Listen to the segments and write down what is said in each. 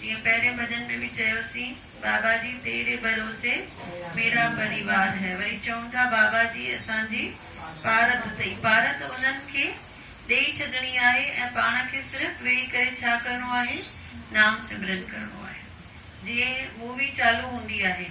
جيئن پهرين ڀڄن ۾ به چيوسين بابا جي تيري ڀروسي ميرا پريوار هي وري چئون ٿا بابا جي اسان جي پارت اٿئي پارت انهن کي ڏيئي ڇڏڻي آهي ۽ پاڻ کي صرف ويهي ڪري ڇا ڪرڻو آهي نام سمرن ڪرڻو آهي جيئن مووي چالو هوندي آهي.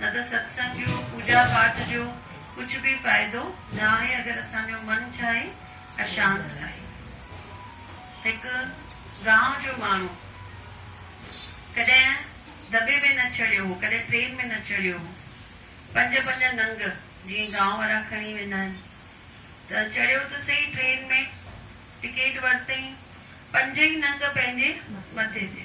نه ته ستسنگ جو، پوڄا پاٺ جو ڪجهه به فائدو نه آهي اگر اسان جو من ڇا آهي اشانت آهي. هڪ گانء جو ماڻهو ڪڏهن دٻي ۾ نه چڙهيو هو، ڪڏهن ٽرين ۾ نه چڙهيو هو، پنج پنج ننگ جيئن گانء وارا کڻي ويندا آهن ته چڙهيو ته سهي ٽرين ۾، ٽڪيٽ ورتئين، پنج ئي ننگ پنهنجي مٿي تي.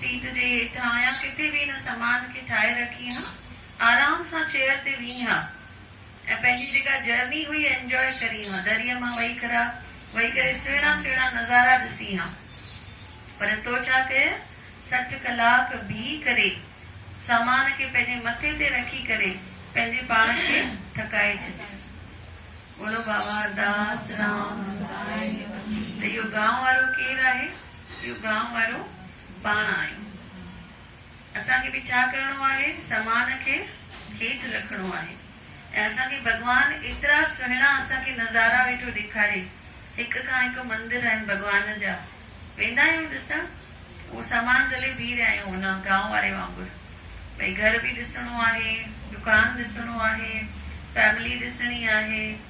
سيٽ جي هيٺان يا ڪٿي به هن سامان کي ٺاهي رکي ها آرام سان چيئر تي ويهين ها ۽ پنهنجي جيڪا جرني هئي انجواء ڪرين ها دريء مان وهي کرا وهي ڪري سهڻا سهڻا نظارا ڏسين ها پر تو ڇا ڪيئه سٺ ڪلاڪ بيهي ڪري سامان کي پنهنجي مٿي تي رکي ڪري پنهنجي پاڻ کي ٿڪائي ڇڏيو ٻولو بابا داس رام ته اهو گانء وارو ڪير آهي. اهو گانء وارو پاڻ آهيون. اسان کي به ڇا ڪرڻو آهي سامان کي هيٺ رکڻو آهي ۽ اسان کي ڀڳوان ايترا سهڻا اسان کي نظارا ويٺو ڏيکاري هڪ کان هڪ مندر آهن ڀڳوان جا ويندا آهيون ڏسڻ اهو سامان جهلي بيهي رهيا آهيون ان گانء واري وانگر ڀئي گهر به ڏسڻو آهي دڪان ڏسڻو آهي فيملي ڏسڻي آهي.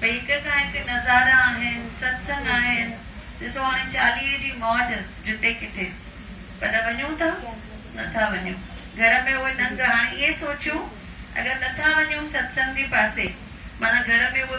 پيڪ کان هتي نظارا آهن، ستسنگ آهن، ڏسو هاڻي چاليهي جي موج جتي ڪٿي، پر وڃون ٿا؟ نٿا وڃون. گهر ۾ اهي ننگ، هاڻي ائين سوچيو اگر نٿا وڃون ستسنگ جي پاسي، معنيٰ گهر ۾ اهي.